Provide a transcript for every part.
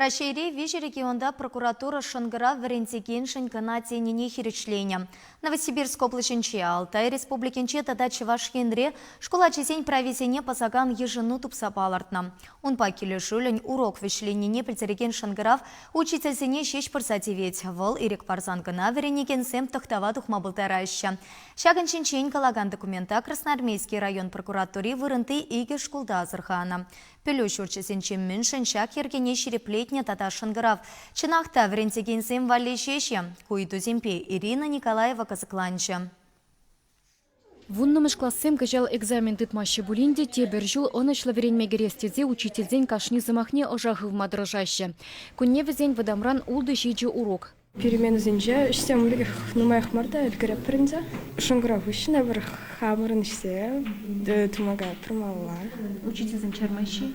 Раҫҫейри виҫӗ регионта прокуратура шӑнкӑрав вӗрентекеншӗн кӑна тенине хирӗҫленӗ. Новосибирск облаҫӗнче, Алтай Республикинче тата Чӑваш Енре шкул ачисен прависене пӑсакан йышӑну тупса палӑртнӑ. Унпа килӗшӳллӗн урок вӗҫленнине пӗлтерекен шӑнкӑрав учительсене ҫеҫ пырса тивет. Вӑл ирӗк парсан кӑна вӗренекенсем тӑхтава тухма пултараҫҫӗ. Ҫакӑн ҫинчен калакан документа Красноармейски район прокуратури вырӑнти икӗ шкулта асӑрханӑ. Пӗлӳ ҫурчӗсенче мӗншӗн ҫак йӗркене ҫирӗплетнӗ тата шӑнкӑрав, чӑнах та, вӗрентекенсем валли ҫеҫ-и? Ку ыйтусемпе Ирина Николаева кӑсӑкланчӗ. Вуннӑмӗш классем кӑҫал экзамен тытмаҫҫӗ пулин те тепӗр ҫул ӑнӑҫлӑ вӗренме кӗрес тесе учительсен кашни сӑмахне ӑша хывма тӑрӑшаҫҫӗ. Кунне вӗсен вӑтамран ултӑ ҫичӗ урок. Переменӑсенче ӗҫсем ӗлӗкех нумаях мар та ӗлкӗреппӗр ӗнтӗ. Шӑнкӑрав хыҫҫӑн эпир хамӑрӑн ӗҫсе тумака пырмалла. Учительсем чармаҫҫӗ-и?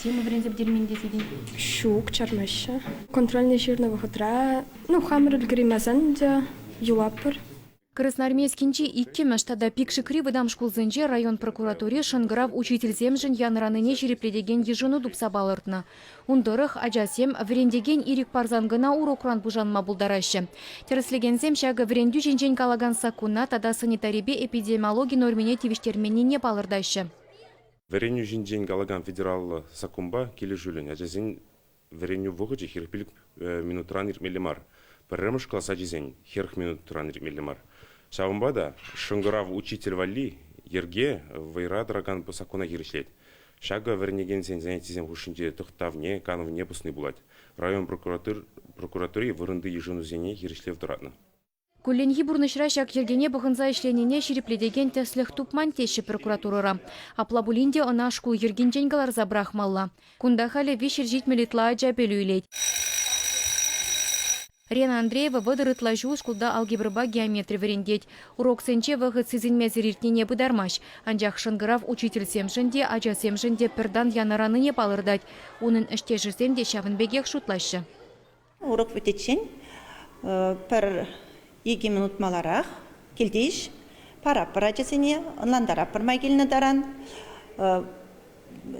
Тема вӗренсе пӗтермен тесен? Ҫук, чармаҫҫӗ. Контрольне ҫырнӑ вӑхӑтра, ну, хамӑр ӗлкӗреймесен те юлатпӑр. Красноармейскинчи иккӗмӗш тата Пикшикри вӑтам шкулсенче район прокуратури шӑнкӑрав учительсемшӗн янӑранине ҫирӗплетекен йышӑну тупса палӑртнӑ. Ун тӑрӑх ачасем вӗрентекен ирӗк парсан кӑна урокран пушанма пултараҫҫӗ. Тӗрӗслекенсем ҫакӑ вӗрентӳ ҫинчен калакан саккуна тата санитарипе эпидемиологи нормине тивӗҫтерменнине палӑртаҫҫӗ. Вӗренӳ ҫинчен калакан федераллӑ саккунпа килӗшӳллӗн ачасен Вӗренӳ вӑхӑчӗ хӗрӗх пилӗк минутран иртмелле мар. Пӗрремӗш класс ачисен хӗрӗх минутран иртмелле мар. Ҫавӑнпа та шӑнкӑрав учитель валли йӗрке вӑйра тӑракан саккуна хирӗҫлет. Ҫакӑ вӗренекенсен занятисем хушшинче тӑхтавне, канӑвне пӑсни пулать. Район прокуратури вырӑнти йышӑнусене хирӗҫлев тӑратнӑ. Кулленхи пурнӑҫра ҫак йӗркене пӑхӑнса ӗҫленине ҫирӗплетекен тӗслӗх тупман теҫҫӗ прокуратурӑра. Апла пулин те ӑна шкул йӗркинчен кӑларса пӑрахмалла. Кунта халӗ виҫ ирҫитмӗл ытла ача пӗлӳ илет. Рена Андреева вӑтӑр ытла ҫул шкулта алгебрӑпа геометри вӗрентет. Уроксенче вӑхӑт сисӗнмесӗр иртнине пытармасть. Анчах шӑнкӑрав учительсемшӗн те, ачасемшӗн те пӗр тан янӑранине палӑртать. Унӑн ӗҫтешӗсем те ҫавӑн пекех шутлаҫҫӗ. Урок вӗтиччен пӗр икӗ минут маларах килтиш параппӑр ачасене, ӑнлантаратпӑр май килнӗ таран.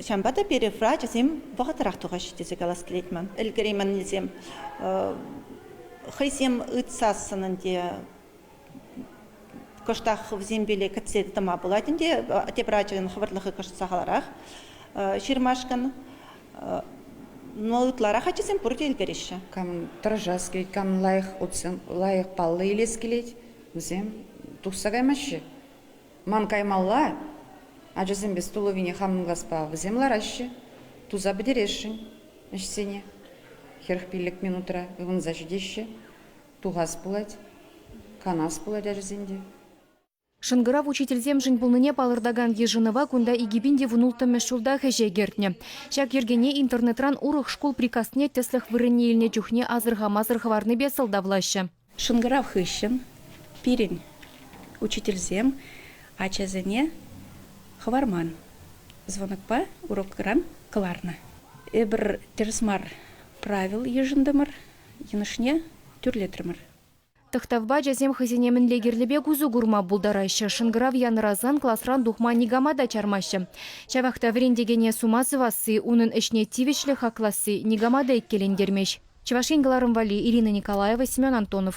Ҫавӑнпа та перифра ачасем вӑхӑтрах тухаҫҫӗ тесе калас килет ман. Ӗлкӗреймӗннисем хӑйсем ыйтсассӑн ӗнтӗ Кӑштах хӑвсем пиле кӗтсе тӑма пулать ӗнтӗ, тепӗр ачан хӑвӑртлӑхӗ кӑшт сахалрах ҫырмашкӑн. Но ытларах ачасем пурте ӗлкӗреҫҫӗ. Кам тӑрӑшас килет, кам лайӑх лайӑх паллӑ илес килет, вӗсем тухса каймаҫҫӗ. Ман каймалла ачасем пес тулӑвине хамӑн класпа вӗсем лараҫҫӗ, туса пӗтересшӗн ӗҫсене. Хӗрӗх пиллӗк минутра ывӑнса ҫитеҫҫӗ. Тухас пулать, канас пулать ачасен те. Шӑнкӑрав учительсемшӗн пулнине палӑртакан йышӑнӑва кунта икӗ пин те вунулттӑмӗш ҫултах ӗҫе кӗртнӗ. Ҫак йӗркене интернетран урӑх шкул приказне тӗслӗх вырӑнне илнӗ чухне асӑрхамасӑр хӑварнипе сӑлтавлаҫҫӗ. Шӑнкӑрав хыҫҫӑн пирӗн учительсем ачасене хӑварман звонокпа урокран кӑларнӑ. Эпир тӗрӗс мар правил йышӑнтӑмӑр, йӑнӑшне тӳрлетрӗмӗр. Тӑхтавпа ачасем хӑйсене мӗнле кирлӗ пек усӑ курма пултараҫҫӗ, шӑнкӑрав янӑрасан класран тухма никама та чармаҫҫӗ. Ҫавах та вӗрентекене сума сӑвасси, унӑн ӗҫне тивӗҫлӗ хакласси никама та иккелентермест. Чӑваш Ен кӑларӑм валли, Ирина Николаева, Семен Антонов.